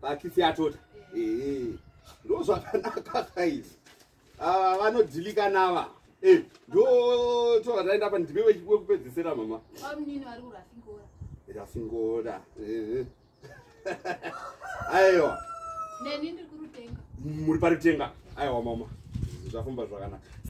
pakitsi yatota ee ndo zvakanaka kaizi ava ah, vanodhilika nava eh, ndo tovataenda apa ndime wekupedzisira mama rasingora eh. aiwa muri parutenga aiwa mama zvafamba zvakanaka